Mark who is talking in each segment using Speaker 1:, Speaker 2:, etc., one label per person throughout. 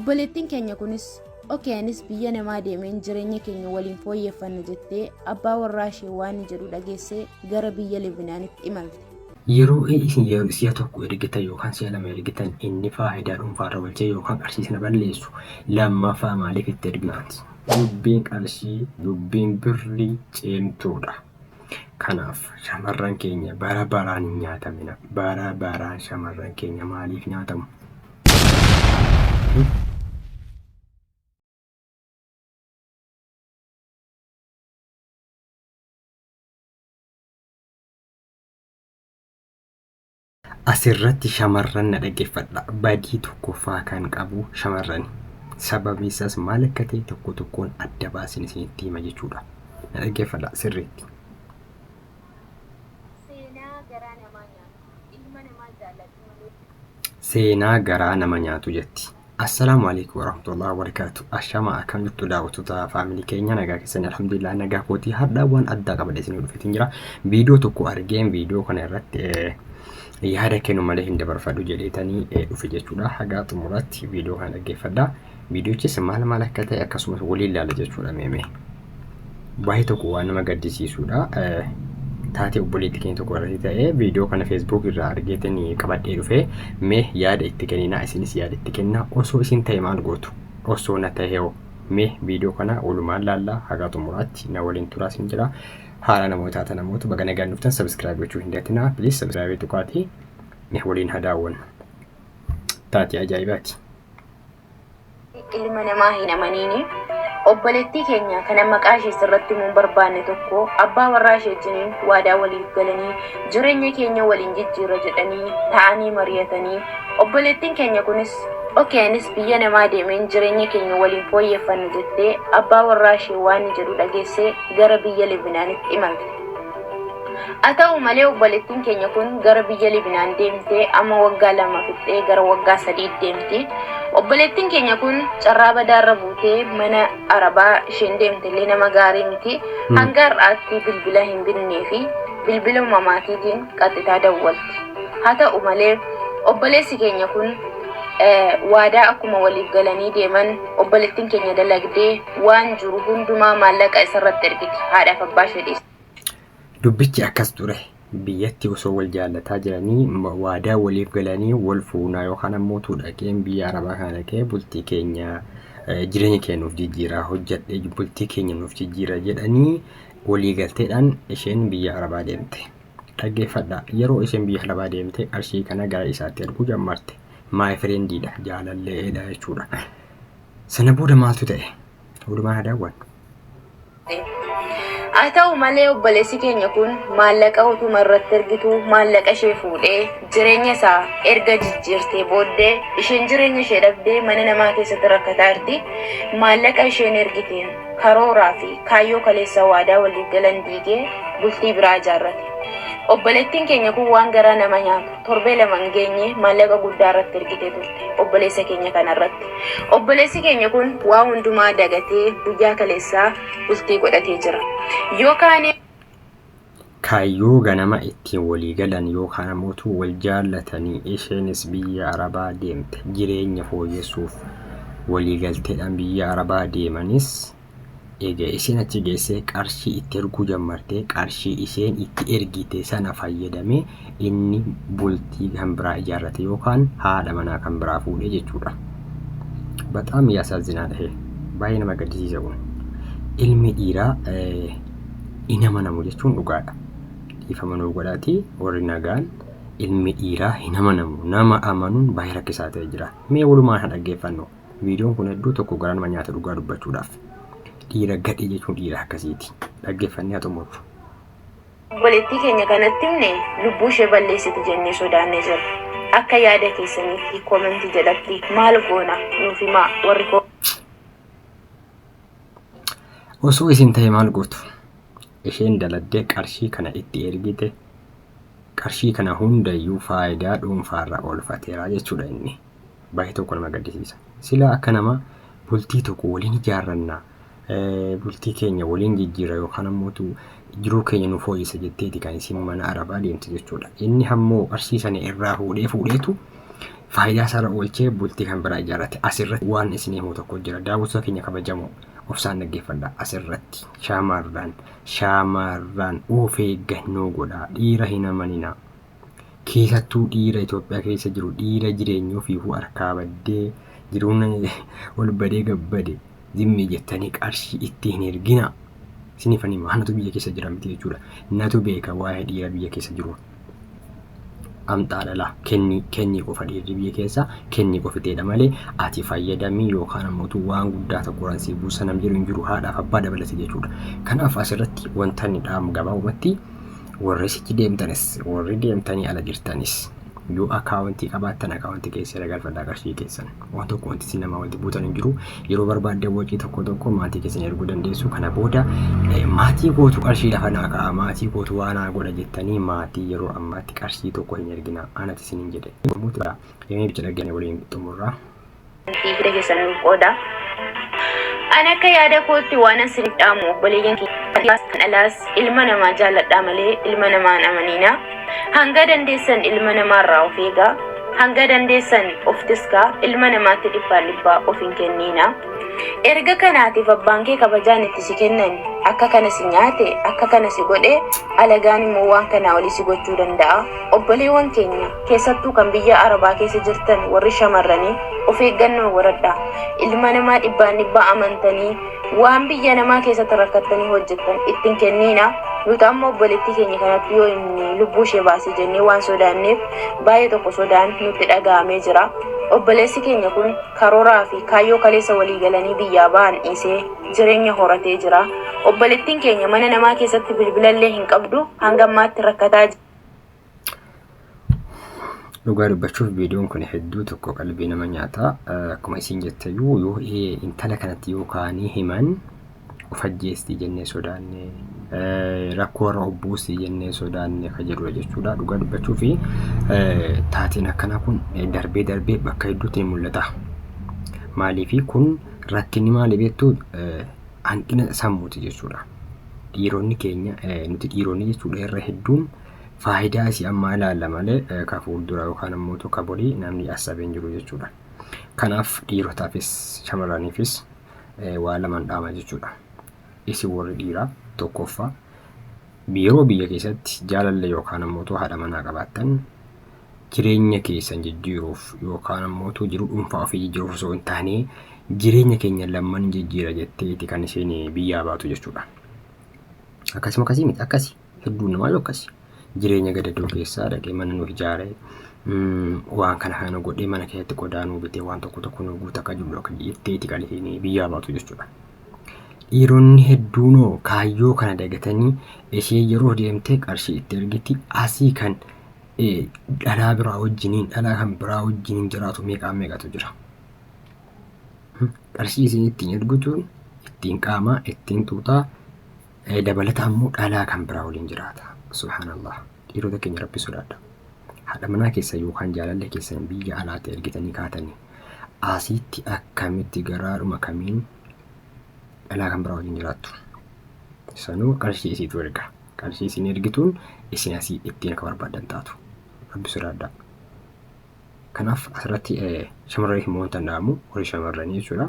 Speaker 1: Obboleettiin keenya kunis oke anis biyya namaa deemeen jireenya keenya waliin fooyyeffanna jettee abbaa warraa ishee waan jedhu dhageessee gara biyya Libinaanitti imalte. Yeroo
Speaker 2: isin yeroo si'a tokko ergitan yookaan si'a lama ergitan inni faayidaa dhuunfaarra oolchee yookaan qarshii na balleessu lammaffaa maaliif itti ergitu? Dubbiin qarshii, dubbiin birrii cimtuudha. Kanaaf shamarran keenya bara baraan hin nyaatamina. Bara baraan shamarran keenya maaliif nyaatamu? Asirratti shamarran na dhaggeeffadha. Badii tokkoffaa kan qabu shamarrani. Sababni isaas maal akka ta'e tokko tokkoon adda baasin isinitti hima jechuudha. Na dhaggeeffadha sirriitti. Seenaa garaa namaa nyaatu. Ilma namaa jaallatu malee. Seenaa garaa nama nyaatu jetti. Assalaamu alaikum warahmatullahi wabarakatuh. Ashama akkam jirtu daawwattoota faamilii keenya nagaa keessan alhamdulillah nagaa kootii har'aa waan addaa qabadhe isin dhufeetiin jira. Viidiyoo tokko argeen viidiyoo kana irratti eh, yaada kennu malee hin dabarfadhu jedheetanii eh, dhufe jechuudha. Hagaa xumuraatti viidiyoo kana dhaggeeffadha. Viidiyochis maal maal akka ta'e akkasumas waliin ilaala jechuudha meemee. baay'ee tokko waan nama gaddisiisudha. Taatee obboleetti keenya tokko irratti ta'ee viidiyoo kana feesbuuk irraa argeetiin qabadhee dhufee mee yaada itti kenninaa isinis yaada itti kennaa osoo isin ta'e maal gootu osoo na ta'e hoo mee viidiyoo kana walumaan laallaa hagaa xumuraatti na waliin turaa isin jira haala namoota taatan namoota baga nagaan dhuftan sabiskiraayib gochuu hin dagatinaa piliis sabiskiraayibii tuqaatii mee waliin haa daawwannu taatee ajaa'ibaati. ilma
Speaker 1: namaa hin amaniini. Obboleettii keenya kana maqaa ishee sirratti himuu hin barbaanne tokko abbaa warraa ishee wajjiniin waadaa waliif galanii jireenya keenya waliin jijjiirra jedhanii ta'anii mari'atanii obboleettiin keenya kunis ok anis biyya namaa deemeen jireenya keenya waliin fooyyeffanna jettee abbaa warraa ishee waanni jedhu dhageessee gara biyya Libinaanitti imalte. Haa ta'u malee obboleettiin keenya kun gara biyya Libinaan deemtee amma waggaa lama fixxee gara waggaa sadii deemti. Obboleettiin keenya kun carraa badaarra buutee mana arabaa isheen deemtellee nama gaarii miti. Hanga har'aatti bilbila hin binnee fi bilbila uumamaatiitiin qaxxitaa dawwalti. Haa ta'u malee obboleessi keenya kun waadaa akkuma waliif galanii deeman obboleettiin keenya dalagdee waan jiru hundumaa maallaqa isarratti ergiti. Haadhaaf abbaa ishee dhiiste. Dubbichi
Speaker 2: akkas ture. Biyyatti osoo wal jaallataa jiranii ma- waadaa waliif galanii wal fuunaa yookaan ammoo utuu dhaqeen biyya arabaa kana dhaqee bultii keenya eh, jireenya keenya nuuf jijjiiraa hojjedhee bultii keenya nuuf jijjiira jedhanii walii galteedhaan isheen biyya arabaa deemte. Dhaggeeffadha yeroo isheen biyya arabaa deemte qarshii kana gara isaatti erguu jammarte. Maay firendiidha jaalalleedha jechuudha. Sana booda maaltu ta'e? Walumaan haa daawwannu. Haa ta'u malee obboleessi keenya kun maallaqa utuma irratti ergitu maallaqa ishee fuudhee jireenya isaa erga jijjiirtee booddee isheen jireenya ishee dhabdee mana namaa keessatti rakkataa jirti. Maallaqa isheen ergiteen karooraa fi kaayyoo kaleessa waadaa waliif galan diigee bultii biraa ijaarrate. Obboleettiin keenya kun waan garaa nama nyaatu. Torbee lama hin geenye maallaqa guddaa irratti ergitee turte obboleessa keenya kana irratti. Obboleessi keenya kun waa hundumaa dagatee guyyaa kaleessaa bultii godhatee jira. Yoo kaanee Kaayyoo ganama ittiin walii galan yookaan ammoo utuu wal jaallatanii isheenis biyya Arabaa deemte jireenya fooyyessuuf walii galteedhaan biyya Arabaa deemanis Eega isiin achi geessee qarshii itti erguu jammartee qarshii isheen itti ergite sana fayyadamee inni bultii kan biraa ijaarrate yookaan haadha manaa kan biraa fuudhe jechuudha. Baxaam yaasaazinaa dhahe baay'ee nama gaddisiisa kun. Ilmi dhiiraa hin amanamu jechuun dhugaadha. Dhiifama nuu godhaatii warri nagaan ilmi dhiiraa hin amanamu nama amanuun baay'ee rakkisaa ta'e jira. Mee walumaan haa dhaggeeffannu. Viidiyoon kun hedduu tokko garaa nama nyaata dhugaa dubbachuudhaaf. Dhiira gadhee jechuun dhiira akkasiiti. Dhaggeeffannee haa xumurru. Obboleettii
Speaker 1: keenya kanatti himne lubbuu ishee balleessiti jennee sodaannee jirra. Akka yaada keessaniitti comment jalatti maal goona nuuf himaa warri comment.
Speaker 2: Osoo isin ta'e maal gootu? Isheen daladdee qarshii kana itti ergite qarshii kana hundayyuu faayidaa dhuunfaarra oolfateera jechuudha inni. baay'ee tokko nama gaddisiisa. Silaa akka nama bultii tokko waliin ijaarranna, eh, bultii keenya waliin jijjiira yookaan ammoo tu jiruu keenya nu fooyyessa jetteeti kan isin mana arabaa deemte jechuudha. Inni hammoo arsii sana irraa fuudhee fuudheetu faayidaa
Speaker 3: isaarra oolchee bultii kan biraa ijaarrate. Asirratti waan isin himu tokko jira. Daawwattoota keenya kabajamoo obsaan dhaggeeffadha. Asirratti shaamarraan shaamarraan of eeggannoo godhaa. Dhiira hin amaninaa. Keessattuu dhiira Itoophiyaa keessa jiru dhiira jireenya ofiifuu harkaa baddee jiruun ol badee gabbade zimmi jettanii qarshii itti hin ergina. Isiniif ani anatu biyya keessa jira miti jechuudha. Natu beeka waa'ee dhiira biyya keessa jiru. Amxaa dhala kenni kenni qofa dhiirri biyya keessa kenni qofiteedha malee ati fayyadamii yookaan ammoo utuu waan guddaa tokko irraan si buusa nam jedhu hin jiru haadhaaf abbaa dabalate jechuudha. Kanaaf asirratti wanta inni dhaamu gabaabumatti warri sichi deemtanis warri deemtanii ala jirtanis yoo akaawuntii qabaattan akaawuntii keessa irra galfadhaa qarshii keessan waan tokko wanti isin namaa walitti buutan hin jiru yeroo barbaaddan waqii tokko tokko maatii keessan erguu dandeessu kana booda eh, maatii kootu qarshii lafa naa ka'a maatii kootu waa naa godha jettanii maatii yeroo ammaatti qarshii tokko hin ergina anati isin hin jedhe Yommuu ta'u, Mee bicha dhaggeeffannee waliin xumurraa fi hidda
Speaker 2: keessan nuuf qooda. An akka yaada kootti waan an sinif dhaamu obboleeyyan kiyyaas kan alaas ilma namaa jaalladhaa malee ilma namaa hin amaniina. Hanga dandeessan ilma namaa irraa of eegaa. Hanga dandeessan of tiskaa ilma namaatti dhibbaan dhibbaa of hin kenniina. Erga kanaatiif abbaan kee kabajaan itti si kennan akka kana si nyaate akka kana si godhe alagaan immoo waan kanaa olii si gochuu danda'a. Obboleewwan keenya, keessattuu kan biyya Arabaa keessa jirtan warri shamarranii, of eeggannoo godhadhaa. Ilma namaa dhibbaan dhibbaa amantanii, waan biyya namaa keessatti rakkattanii hojjettan itti hin kenniinaa. Nuti amma obboleettii keenya kanatti yoo inni lubbuu ishee baase jennee waan sodaanneef baay'ee tokko sodaan nutti dhaga'amee jira. Obboleessi keenya kun karooraa fi kaayyoo kaleessa walii galanii biyyaa ba'an dhiisee jireenya horatee jira. Obboleettiin keenya mana namaa keessatti bilbilallee hin qabdu hanga ammaatti rakkataa jira.
Speaker 3: Dhugaa dubbachuuf viidiyoon kun hedduu tokko qalbii nama nyaata. Akkuma isiin jette iyyuu yoo intala kanatti yoo kaanii himan of ajjeestii jennee sodaanne rakkoo warra obbuusii jennee sodaanne kan jedhudha jechuudha. Dhugaa dubbachuu fi taateen akkanaa kun darbee darbee bakka hedduutti ni mul'ata. Maaliif kun rakkinni maali beektu hanqina sammuuti jechuudha. dhiironni keenya nuti dhiironni jechuudha irra hedduun faayidaa isii ammaa ilaalla malee ka fuuldura yookaan ammoo tokko borii namni assabeen jiru jechuudha. Kanaaf dhiirotaafis shamarraniifis waa lamaan dhaama jechuudha. Isin warri dhiiraa tokkoffaa yeroo biyya keessatti jaalallee yookaan ammoo haadha manaa qabaattan jireenya keessan jijjiiruuf yookaan ammoo utuu jiruu dhuunfaa ofii jijjiiruuf osoo hin taane jireenya keenya lamman jijjiira jetteeti kan isheen biyyaa baatu jechuudha. Akkasuma akkasii miti akkasi hedduun namaa yoo akkasi jireenya gadadoo keessaa dhaqee mana nuuf ijaare waan kana kana godhee mana keessatti qodaa nuu bitee waan tokko tokko nuu guuta akka jiru akka jetteeti kan isheen biyyaa baatu jechuudha. Dhiironni hedduunoo kaayyoo kana dagatanii ishee yeroo deemtee qarshii itti ergiti asii kan dhalaa biraa wajjiniin dhalaa kan biraa wajjiniin jiraatu meeqaa meeqatu jira. Qarshii isin ittiin ergitu ittiin qaamaa ittiin tuutaa dabalata ammoo dhalaa kan biraa waliin jiraata. Subhaanallah dhiirota keenya rabbi sodaadha. Haadha manaa keessa yookaan jaalallee keessan biyya alaatti ergitanii kaatanii asiitti akkamitti garaadhuma kamiin dhalaa kan biraa waliin jiraattu. Sanuu qarshii isiitu erga. Qarshii isin ergituun isin asii ittiin akka barbaaddan taatu. Rabbi sodaadhaa. Kanaaf asirratti shamarree hin moontan dhaamu warri shamarranii jechuudha.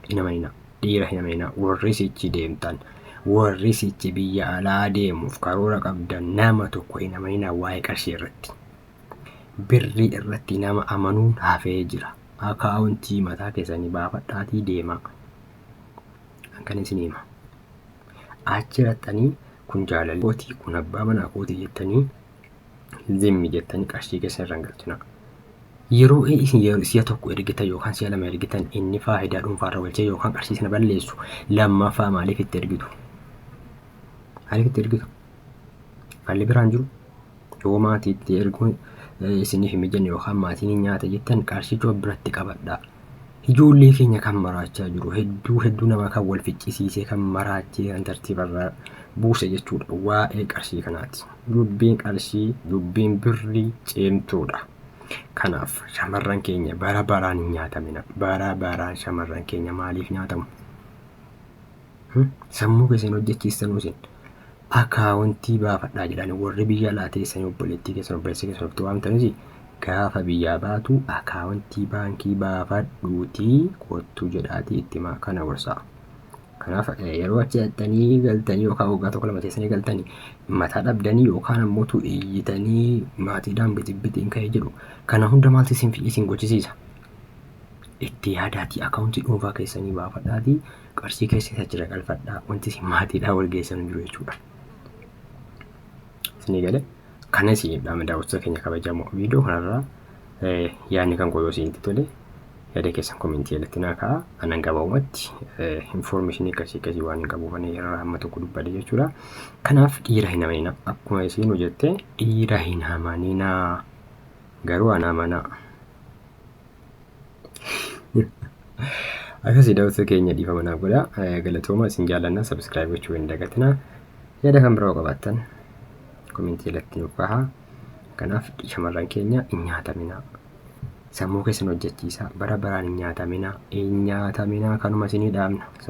Speaker 3: Hin amanina. Dhiira hin amanina. Warri sichi deemtan. Warri sichi biyya alaa deemuuf karoora qabdan nama tokko hin amanina waa'ee qarshii irratti. Birrii irratti nama amanuun hafee jira. Akaawuntii mataa keessanii baafadhaatii deemaa. Kan isin hima. Achi raxxanii kun jaalala kooti kun abbaa manaa kooti jettanii zimmi jettanii qarshii keessa irra hin galchinaa. Yeroo isin yeroo si'a tokko ergitan yookaan si'a lama ergitan inni faayidaa dhuunfaarra oolchee yookaan qarshii sana balleessu lammaffaa maaliif itti ergitu? Maaliif itti ergitu? Haalli biraan jiru yoo maatii itti erguun eh, isiniif hin mijanne yookaan maatiin hin nyaata jettan qarshicha of biratti qabadhaa. Ijoollee keenya kan maraachaa jiru hedduu hedduu namaa kan wal ficcisiisee kan maraachee kan tartiibarraa buuse jechuudha waa'ee qarshii kanaati. Dubbiin qarshii dubbiin birrii cimtuudha. Kanaaf shamarran keenya bara baraan hin nyaatamina. Bara baraan shamarran keenya maaliif nyaatamu? Sammuu keessan hojjechiistanuu isin akaawuntii baafadhaa jedhani warri biyya alaa teessanii obboleettii keessan obboleessa keessan ofitti waamtanis gaafa biyyaa baatu akaawuntii baankii baafadhuutii kottuu jedhaatii itti himaa kana gorsaa. Kanaaf yeroo achi dhaqxanii galtanii yookaan waggaa tokko lama teessanii galtanii mataa dhabdanii yookaan ammoo tu iyyitanii maatiidhaan bitibbitiin ka'ee jedhu kana hunda maaltu isin isin gochisiisa? Itti yaadaatii akaawuntii dhuunfaa keessanii baafadhaatii qarshii keessan achi irra galfadhaa wanti isin maatiidhaa wal geessan hin jiru jechuudha. Isinii galee kana isin dhaama daawwattoota keenya kabajamoo viidiyoo kanarraa eh, yaadni kan koo yoo isinitti tole yaada keessan komentii jalatti naa ka'a anan gabaabumatti infoormeeshinii akkasii akkasii waan hin qabuuf ani irraa amma tokko dubbadhe jechuudha. Kanaaf dhiira hin amanina akkuma isin hojjette dhiira hin amanina garuu ana amanaa. Akkasii daawwattoota keenya dhiifama naaf godha. Galatooma isin jaallanna sabiskiraayib gochuu hin dagatina. Yaada kan biroo qabaattan komentii jalatti nuuf kahaa. Kanaaf shamarran keenya hin nyaataminaa. Sammuu keessan hojjechiisaa bara baraan hin nyaataminaa. Hin nyaataminaa kanuma isinii dhaamna.